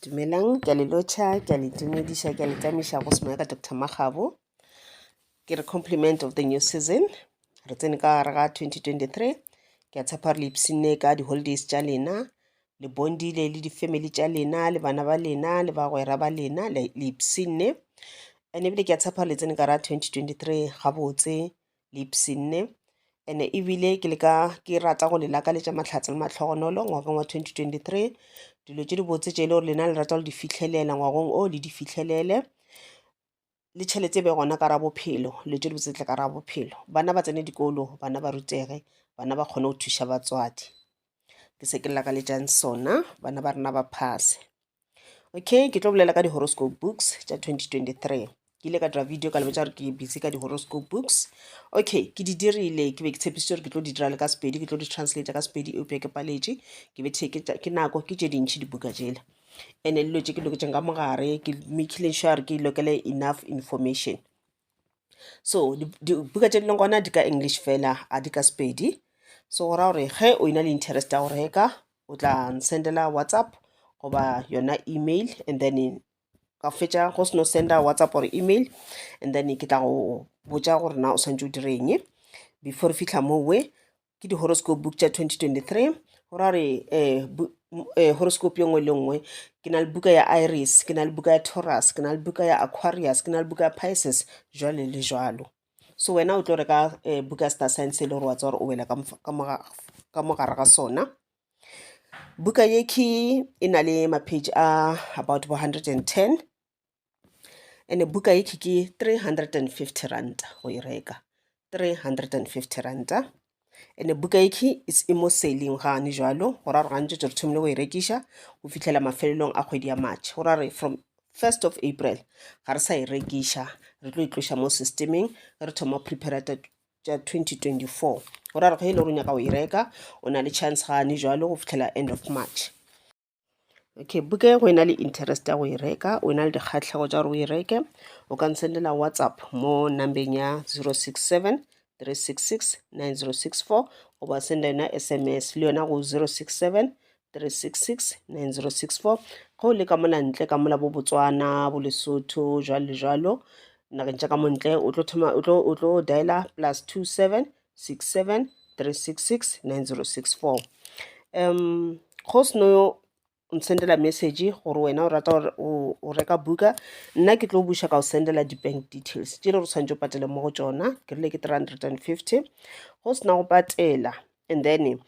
Dumelang, ke a le lotšha, ke a le itumediša, ke a le tamiša go semoya ka Doctor Makgabo. Ke re compliment of the new season. Re tsene ka gare ga 2023. Ke a tshepa re le ipshinne ka di-holidays tša lena. Le bondile le di-family tša lena, le bana ba lena, le bagwera ba lena, le le ipshinne. And ebile ke a tshepa le tsene ka gare ga 2023 gabotse, lipsinne ene ebile ke leka ke rata go le lakaletša mahlatse le matlhogonolo ngwageng wa 2023 dilo tše dibotse tše e le gore lena le rata go di fitlhelela ngwagong o le di fitlhelele le tšhelete e be gona ka ra bophelo dilo tše dibotse tle ka ra bophelo bana ba tsene dikolo bana ba rutege bana ba kgone go thuša batswadi ke se ke lakaletsang sona bana ba rena ba phase Okay, ke tlo bolela ka di-horoscope books tša 2023. Ke ile ka dira video ka lebetša gore ke busy ka di-horoscope books. Okay, ke di dirile, ke be ke tshepišitše gore ke tlo di dira le ka Sepedi, ke tlo di translate ka Sepedi, eupša ke paletše, ke be ke ke nako, ke tše dintšhi dibuka tšela. And-e dilo tše ke loketšeng ka mogare, ke making sure ke lokele enough information. so dibuka tše di leng gona di ka english fela a di ka sepedi so go raya gore ge o ena le interest ya go reka o tla nsendela whatsapp goba yona email and then ka fetša go seno senda whatsapp or email and then ke tla go botša gore na o swantse o direng before re fitlha mowe ke di-horoscope book tša 2023 go ra gore um um horoscope yo nngwe le nngwe ke na le buka ya iris ke na le buka ya taurus ke na le buka ya aquarius ke na le buka ya pisces jwale le jwalo so wena o tlo reka um buka star science e le gore wa tsa gore o wela ka mogare ga sona buka ye ke e na le mapage a about bo 110 ene buka ye ke 350 ranta go e reka 350 ranta ene buka ye ke is imo selling gane jalo go ra re gantse tse re thomile go e rekiša go fitlhela mafelelong a kgwedi ya march go ra re from 1st of april ga re sa e rekiša re tlo itloša e mo systemeng re thoma prepare tša 2024 go ra re ge e le gore o nyaka go e reka o na le chance gane jalo go fitlhela end of march okay buka e go e na le interest ya go e reka o e na le dikgatlhego tša gore o e reke o ka nsendela whatsapp mo numbeng ya 067 366 9064 goba senda yona sms le yona go 067 366 9064 ge o le ka mona ntle ka mola bo botswana bo lesotho jalo le jalo nageng tša ka montle o tlo dialer plus 27 67 366 9064 um go seno yo o nsendela message gore wena o rata gore o o reka buka nna ke tlo buša ka go sendela di-bank details tše le re tshwanetse o patele mo go tšona ke rile ke 350 go sena go patela and then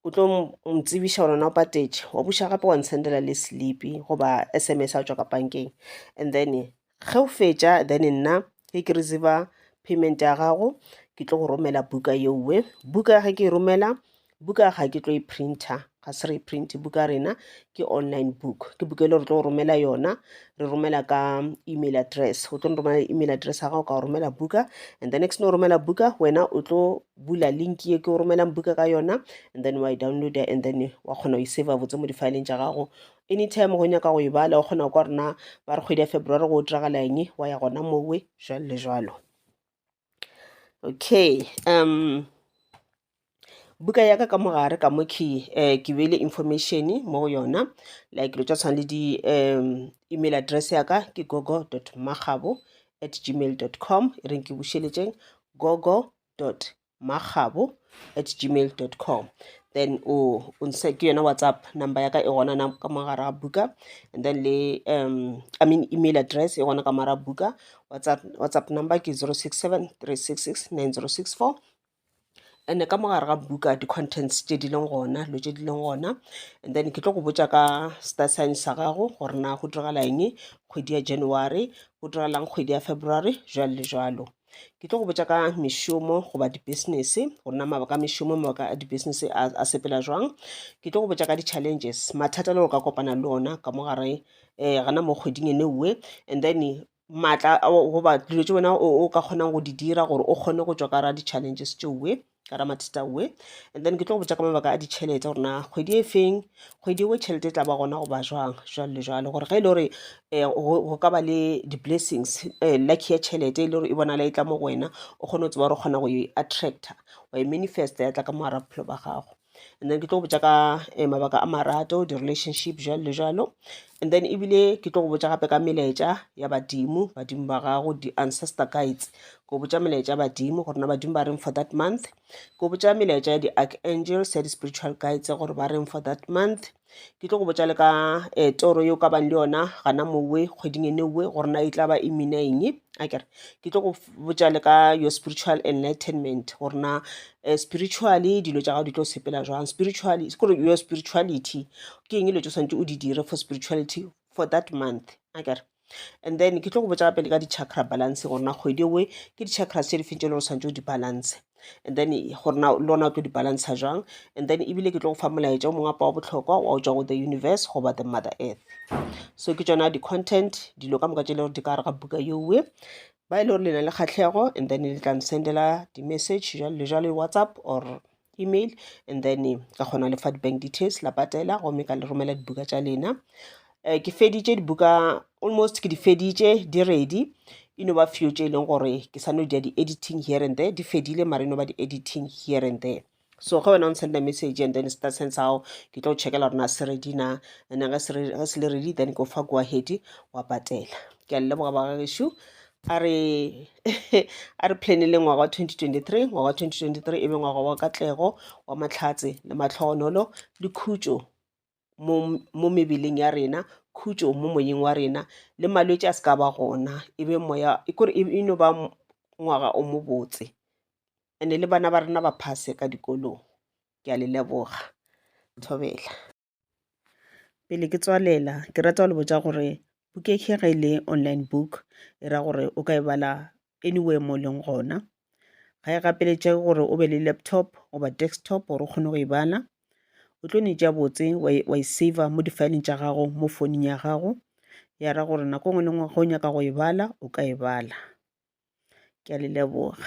o tlo ntsebiša gore na o patetše wa buša gape wa nsendela le slipi goba s m s a tswa ka bankeng and then ge o fetša then nna ge ke receiver payment ya gago ke tlo go romela buka yeowe buka ge ke e romela buka ga ke tlo e printer ga se re print buka rena ke online book ke buka e le re tlo romela yona re romela ka email address o tlo romela email address ya gago ka go romela buka and the next no romela buka wena o tlo bula link ye ke o romelang buka ka yona and then wa e downloada and then wa kgona go iseva botse mo difaeleng tša gago anytime go nyaka go e bala o kgona go kwa rena ba re kgwedi ya february go o diragala eng wa ya gona mowe jalo le jalo okay um buka yaka ka mogare ka mo ke um ke beile information mo go yona like lo tša tshwana le di um email address yaka ke gogo dot magabo at gmail dot com e reng ke bušeletšeng gogo dot makgabo at gmail dot com then o nse ke yona whatsapp number ya ka e gona na ka mogara buka and then le um i mean email address e gona ka mogara buka whatsapp, whatsapp number ke zero six seven three six six nine zero six four and ka mogare ga buka di-contents tše di leng gona dilo tše di leng gona and then ke tlo go botša ka star sign sa gago gore na go diragala eng kgwedi ya january go diragalang kgwedi ya february jalo le jalo ke tlo go botša ka mešomo goba di-business gore na mabaka a mešomo mabaka a di-business a sepela jwang ke tlo go botša ka di-challenges mathata le gore ka kopana le ona ka mo gare um gana mo kgweding e neuwe and then maatla goba dilo tse wena o ka kgonang go di dira gore o kgone go tšwa ka ra di-challenges tšeuwe ka ramatheta we and then ke tlo go botsa ka mabaka a ditšhelete gore na kgwedi e feng kgwedi ewe tšhelete e tla ba gona goba jwang jwale le jwale gore ge e le gore um go ka ba le di-blessings um lucky ya tšhelete e le gore e bonala e tla mo go wena o kgone go tseba gore o kgona go e attractor wa e manifesta ya tla ka moara bophelo ba gago and then ke tlo go botša ka eh, mabaka a marato di-relationship jalo le jalo and then ebile ke tlo go botša gape ka melaetša ya badimo badimo ba gago di-ancestor guides ko botša melaetša ya badimo gore na badimo ba reng for that month ko botša melaetša ya di-archangels ya di-spiritual guides gore ba reng for that month ke tlo go botša le ka um toro yeo ka bang le yona gana mowe kgweding ene owe gore na e tla ba e mina eng a kere ke tlo go botša le ka your spiritual enlightenment gore na um spiritually dilo tša gago di tlo sepela jwang spiritually kore your spirituality ke eng dilo tse o swanetše o di dire for spirituality for that month a kere and then ke tlo go botša pele ka di-chakra balance gore na kgwedi ewe ke di-chakras tše di feng tše le gore santse o di balance and then gore na le ona o tlo di balance jwang and then ebile ke tlo go fa molaetša o mongwe apa wa bohlokwa wa o tswa go the universe goba the mother earth so ke tsona di-content dilo ka moka tše le gore di ka gare ga buka yeowe ba e le gore le na le kgatlhego and then le tla nsendela di-message jalo le jalo whatsapp or email and then ka kgona lefa di-bank details la patela gomme ka le romela dibuka tša lena um ke feditše dibuka almost ke di feditše di ready e no ba few tše e leng gore ke sa no dia di-editing here and there di fedile mara e no ba di-editing here and there so ge wena o nsenda message and then star sense ao ke tlo checkela gore na se ready na and ge se le ready then ke o fa go ahead wa patela ke a leboga ba gagešu a re a re planele ngwaga wa 2023 ngwaga wa 2023 e be ngwaga wa katlego wa mahlatse le matlhogonolo le khutšo mo mo mebeleng ya rena khutšo mo moyeng wa rena le malwetse a se ka ba gona e be moya e kore e e no ba m- ngwaga o mobotse ande le bana ba rena ba phase ka dikolong ke a le leboga thobela Pele ke tswalela ke rata go le botša gore Bukekge ge e le online book e ra gore o ka e bala anywhere mo leng gona. Ga e gapeletše gore o be le laptop goba desktop gore o kgone go e bala. O tlo ne tša botse wa e, wa e saver mo difaeleng tša gago mo founung ya gago, ya ra gore nako e nngwe le nngwe ge o nyaka go e bala o ka e bala. Ke a le leboga.